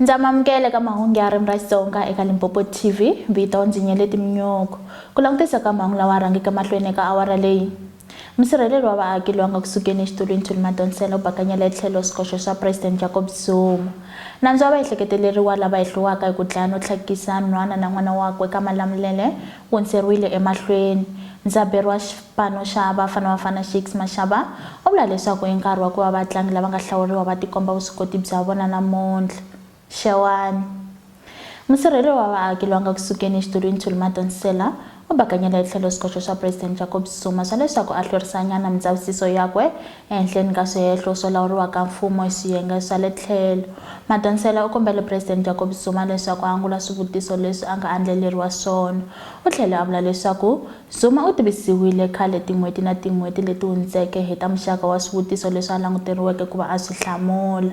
Ndza mamukela eka mahungu ya ririmi ra Xitsonga eka Limpopo TV. Vito ndzi Nyeleti Mnyoko. Ku langutisa ka mhangu lawa rhangeke mahlweni eka awara leyi. Musirheleli wa vaaki loyi a nga ku sukeni exitulwini Thuli Madonsela u bakanyela etlhelo swikoxo swa President Jacob Zuma. Nandzu wa vaehleketeleriwa lava hehliwaka hi ku dlaya no tlhakisa nhwana na n'wana wakwe eka Malamulele hundzeriwile emahlweni. Ndzaberi wa xipano xa Bafana Bafana, Shakes Mashaba, u vula leswaku i nkarhi wa ku va vatlangi lava nga hlawuriwa va tikomba vuswikoti bya vona namuntlha, Xewani. Musirheleli wa vaaki loyi a nga ku sukeni exitulwini Thulimato Nsela u bakanyele etlhelo swikoxo swa President Jacob Zuma swa leswaku a hlwerisanyana mindzavisiso yakwe Ehenhleni ka swihehlo swo lawuriwa ka mfumo hi swiyenge swa le tlhelo, Madonsela u kombele Presidente Jacob Zuma leswaku a angula swivutiso leswi a nga andlaleriwa swona. U tlhele a vula leswaku Zuma u tivisiwile khale tin'hweti na tin'hweti leti hundzeke hi ta muxaka wa swivutiso leswi a languteriweke ku va a swi hlamula.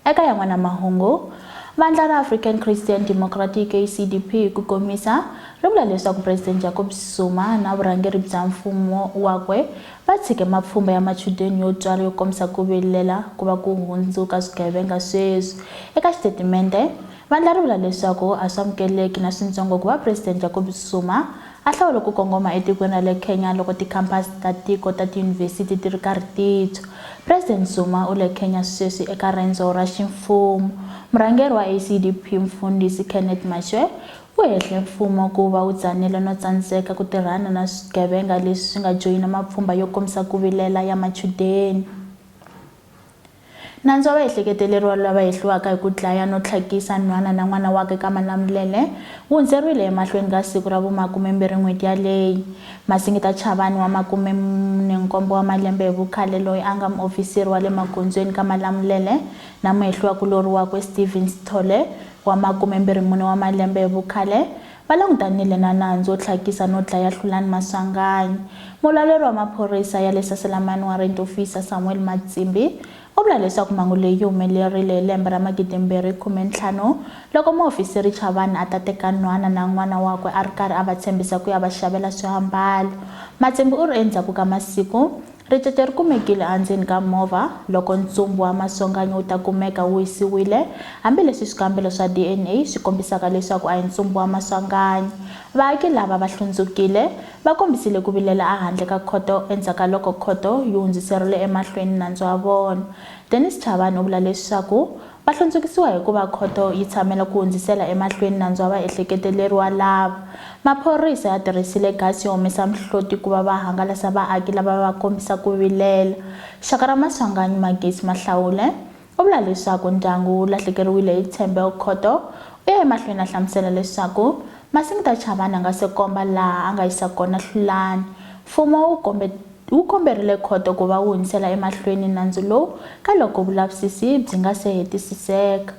Eka yan'wana mahungu, vandla ra African Christian Democratic, ACDP, hi ku komisa, ri vula leswaku Presidente Jacob Zuma na vurhangeri bya mfumo wakwe Va tshike mapfhumba ya machudeni yo twala yo kombisa ku vilela ku va ku hundzuka swigevenga sweswi. Eka xitatimende, vandla ri vula leswaku a swi amukeleki na swintsongo ku va Presidente Jacob Zuma a hlawule ku kongoma etikweni ra le Kenya loko tikhampasi ta tiko ta tiyunivhesiti ti ri karhi ti tshwa. President Zuma u le Kenya sweswi eka rendzo ra ximfumo. Murhangeri wa ACDP, Mfundhisi Kenneth Mashwe, Ku hehle mfumo ku va wu tsanile no tsandzeka ku tirhana na swigevenga leswi swi nga joyina mapfhumba yo kombisa ku vilela ya machudeni. Nandzu wa vahehleketeleriwa lava hehliwaka hi ku dlaya no tlhakisa nhwana na n'wana wakwe ka Malamulele wu hundzeriwile emahlweni ka siku ra vu makumembirhi n'hweti yaleyi. Masingita Chavani wa makume-munenkombo wa malembe hi vukhale loyi a nga muofisiri wa le magondzweni ka Malamulele na muhehliwa-kulorhi wakwe Stephen Sithole wa makume-mbirhi-mune wa malembe hi vukhale, va langutanile na nandzu wo tlhakisa no dlaya Hlulani Maswanganyi. Mulawuleri wa maphorisa ya le Saselamani Warrant Officer Samuel Matsimbi u vula leswaku mhangu leyi yi humelerile hi lembe ra magidimbirhi khume-ntlhanu loko muhofisiri Chavani a ta teka nhwana na n'wana wakwe a ri karhi a va tshembisa ku ya va xavela swiambalo. Matsimbi u ri endzhaku ka masiku, Ricece ri kumekile endzeni ka movha loko ntsumbu wa masonganyo wu ta kumeka wu hisiwile, hambi leswi swikambelo swa DNA swi kombisaka leswaku a hi ntsumbu wa maswanganyo. Vaaki lava va hlundzukile, va kombisile ku vilela ehandle ka khoto endzhaku ka loko khoto yi hundzuserile emahlweni nandzu wa vona. Dennis Chabane u vula leswaku Va hlundzukisiwa hi ku va khoto yi tshamela ku hundzisela emahlweni nandzu wa vaehleketeleriwa lava. Maphorisa ya tirhisile gasi yo humesa mihloti ku va va hangalasa vaaki lava va kombisa ku vilela. Xaka ra Maswanganyi, Magesi Mahlawule, u vula leswaku ndyangu wu lahlekeriwile hi tshembe. Khoto u ye emahlweni a hlamusela leswaku Masingita Chavani a nga se komba laha a nga yisa kona Hlulani, mfumo wu kombe. Wu komberile khoto ku va wu hundzisela emahlweni nandzu lowu ka loko vulavisisi byi nga se hetisiseka.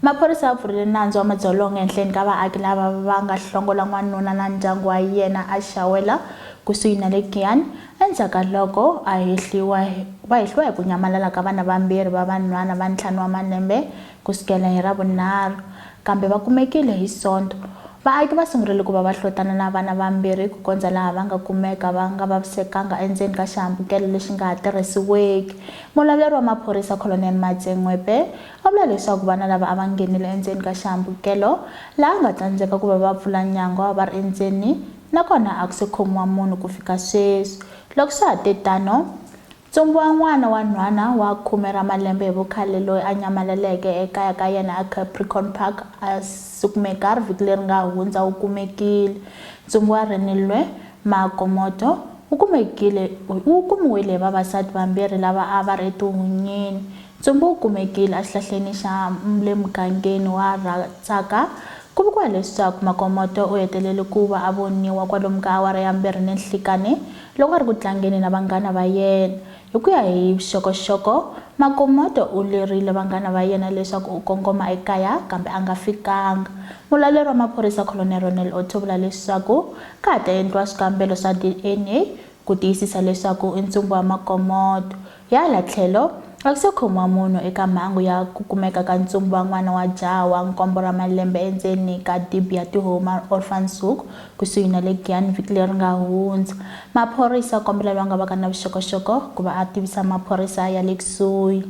Maphorisa ya pfurile nandzu wa madzolonga ehenhleni ka vaaki lava va nga hlongola n'wanuna na ndyangu wa yena eShawela kusuhi na le Giyani endzhaku ka loko a hehliwa va hehliwa hi ku nyamalala ka vana vambirhi va vanhwana va ntlhanu wa malembe Ku sukela hi Ravunharhu, kambe va kumekile hi Sonto, vaaki va sungurile ku va va hlotana na vana vambirhi ku kondza laha va nga kumeka va nga vavisekanga endzeni ka xihambukelo lexi nga ha tirhisiweki. Mulawuleri wa maphorisa Colonel Matse Ngwepe a vula leswaku vana lava a va nghenile endzeni ka xihambukelo laha nga tsandzeka ku va va pfula nyangwa va ri endzeni nakona a ku se khomiwa munhu ku fika sweswi. Loko swa ha te tano, Tsumbuwa n'wana wa nhwana wa khume ra malembe hi vukhale loyi a nyamalaleke ekaya ka yena eCapricorn Park a sukumekar vhiki leri nga hundza u kumekile. Tsumbuwa Renilwe Magomoto u kumekile u kumiwile hi vavasati vambirhi lava a va ri etihunyini. Tsumbu u kumekile exihlahleni xa le mugangeni wa Ratsaka Ku vuriwa leswaku Makomoto u hetelele ku va a voniwa kwalomu ka awara ya mbirhi ni nhlikani loko a ri ku tlangeni na vanghana va yena. Hi ku ya hi vuxokoxoko, Makomoto u lerile vanghana va yena leswaku u kongoma ekaya kambe a nga fikanga. Mulawuleri wa maphorisa Colonel Ronel Otto u vula leswaku ka ha ta endliwa swikambelo swa DNA ku tiyisisa leswaku i ntsumbu wa Makomoto. Hi hala tlhelo, a ku se khomiwa munhu eka mhangu ya ku kumeka ka ntsumbu wa n'wana wa jaha wa nkombo ra malembe endzeni ka dibi ya Tihomu ra Orphanshoek kusuhi na le Giyani vhiki leri nga hundza. Maphorisa kombela loyi a nga vaka na vuxokoxoko ku va a tivisa maphorisa ya le kusuhi.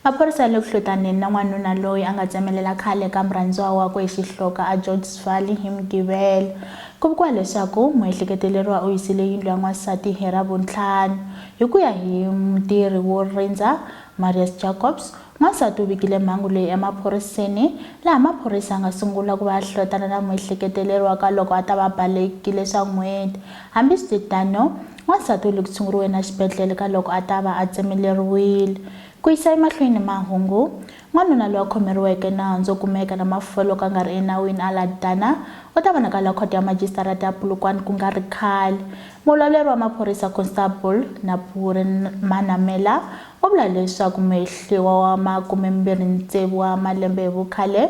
Maphorisa ya le ku hlutaneni na n'wanuna loyi a nga tsemelela khale ka murhandziwa wakwe hi xihloka eGeorges Valley hi Mugivelo. Ku vikiwa leswaku muehleketeleriwa u hisile yindlu ya n'wansati hi Ravuntlhanu. Hi ku ya hi mutirhi wo rindza, Marius Jacobs, n'wansati u vikile mhangu leyi emaphoriseni, laha maphorisa ya nga sungula ku va ya hlotana na muehleketeleriwa ka loko a ta va balekile swa n'hweti. Hambiswititano, Wansati u le ku tshunguriweni exibedlhele ka loko a ta va a tsemeleriwile. Ku yisa emahlweni ni mahungu, N'wanuna loyi a khomeriweke nandzu wo kumeka na mafufa loko a nga ri enawini aLadana u ta vonakala Khoto ya Majisitarata ya Polokwane ku nga ri khale. Mulawuleri wa maphorisa Constable Napure Manamela U vula leswaku Mehliwa wa makumembirhi ntsevu wa malembe hi vukhale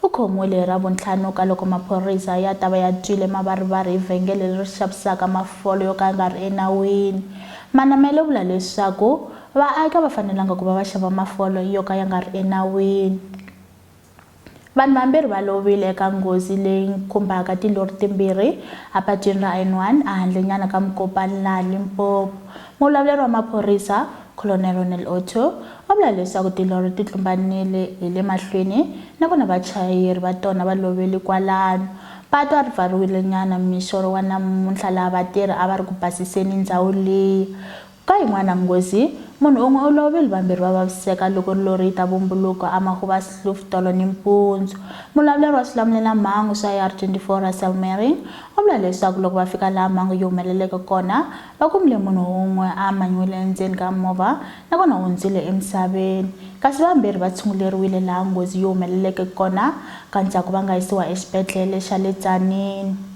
u khomiwile hi Ravuntlhanu ka loko maphorisa ya ta va ya twile mavarivari hi vhengele leri xavisaka mafolo yo ka ya nga ri enawini. Manamela u vula leswaku vaaki a va fanelanga ku va va xava mafolo yo ka ya nga ri enawini. Vanhu vambirhi va lovile eka nghozi leyi khumbaka tilori timbirhi epatwini ra N1 ehandlenyana ka Mokopane laha Limpopo. Muvulavuleri wa maphorisa, Colonel Ronel Otto, va vula leswaku tilori ti tlumbanile hi le mahlweni na kona vachayeri va tona va lovele kwalano. Patu a ri pfariwile nyana mixo wa namuntlha laha vatirhi a va ri ku basiseni ndhawu liya. Ka yin'wana nghozi, munhu un'we u lovile, vambirhi va vaviseka loko rilo ri ta vumbuluka amahuvasluf tolo nimpundzu. Mulavuleri wa swilamulela-mhangu swa AR-24 Russel Meiring u vula leswaku loko va fika laha mhangu yi humeleleke kona, va kumile munhu un'we a amanyiwile endzeni ka movha nakona u hundzile emisaveni, kasi vambirhi va tshunguleriwile laha nghozi yi humeleleke kona ka ndzhaku va nga yisiwa exibedlhele xa le Tzaneen.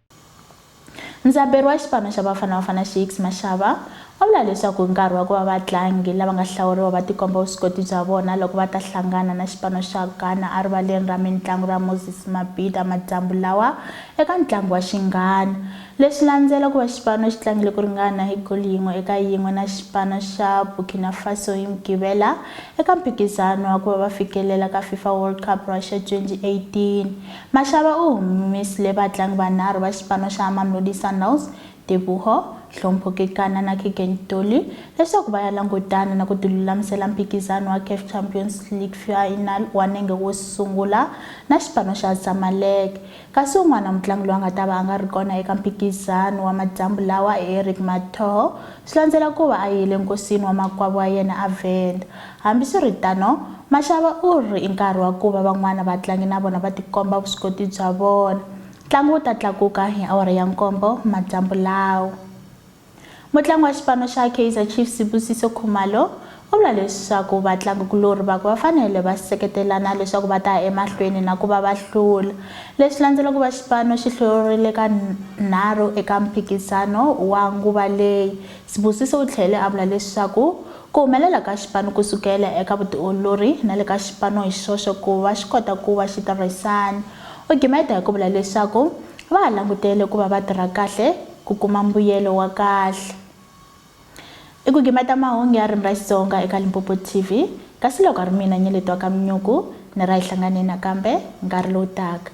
Ndzaberi wa xipano xa Bafana Bafana Shakes Mashaba u vula leswaku i nkarhi wa ku va vatlangi lava nga hlawuriwa va tikomba vuswikoti bya vona loko va ta hlangana na xipano xa Ghana erivaleni ra mitlangu ra Moses Mabhida madyambu lawa eka ntlangu wa xinghana. Leswi landzela ku va xipano xi tlangile ku ringana hi goli yin'we eka yin'we na xipano xa Burkina Faso hi Mugqivela eka mphikizano wa ku va va fikelela ka FIFA World Cup Russia 2018. Mashava u humesile vatlangi vanharhu va xipano xa Mamelodi Sundowns, Teboho, Hlompho Kekana na Keagan Dolly leswaku va ya langutana na ku tilulamisela mphikizano wa CAF Champions League Final wa nenge wo sungula na xipano xa Zamalek. Kasi un'wana mutlangi loyi a nga ta va a nga ri kona eka mphikizano wa madyambu lawa i Eric Mathoho swi landzela ku va a yile enkosini wa makwavo wa yena a Venda. Hambiswiritano, Mashava u ri, I nkarhi wa ku va van'wana vatlangi na vona va tikomba vuswikoti bya vona. Ntlangu wu ta tlakuka hi awara ya nkombo madyambu lawa. Mutlangi wa xipano xa Kaizer Chiefs Sibusiso Khumalo u vula leswaku vatlangikulorhi vakwe va fanele va seketelana leswaku va ta ya emahlweni na ku va va hlula. Leswi landzela ku va xipano xi hluriwile ka nharhu eka mphikizano wa nguva leyi, Sibusiso u tlhele a vula leswaku Ku humelela ka xipano ku sukela eka vutiolori na le ka xipano hi xoxe ku va xi kota ku va xi tirhisana. U gimeta hi ku vula leswaku va ha langutele ku va va tirha kahle ku kuma mbuyelo wa kahle. I ku gimeta mahungu ya ririmi ra Xitsonga eka Limpopo TV, kasi loko a ri mina Nyeleti wa ka Mnyuku ni ra hi hlangane nakambe nkarhi lowu taka.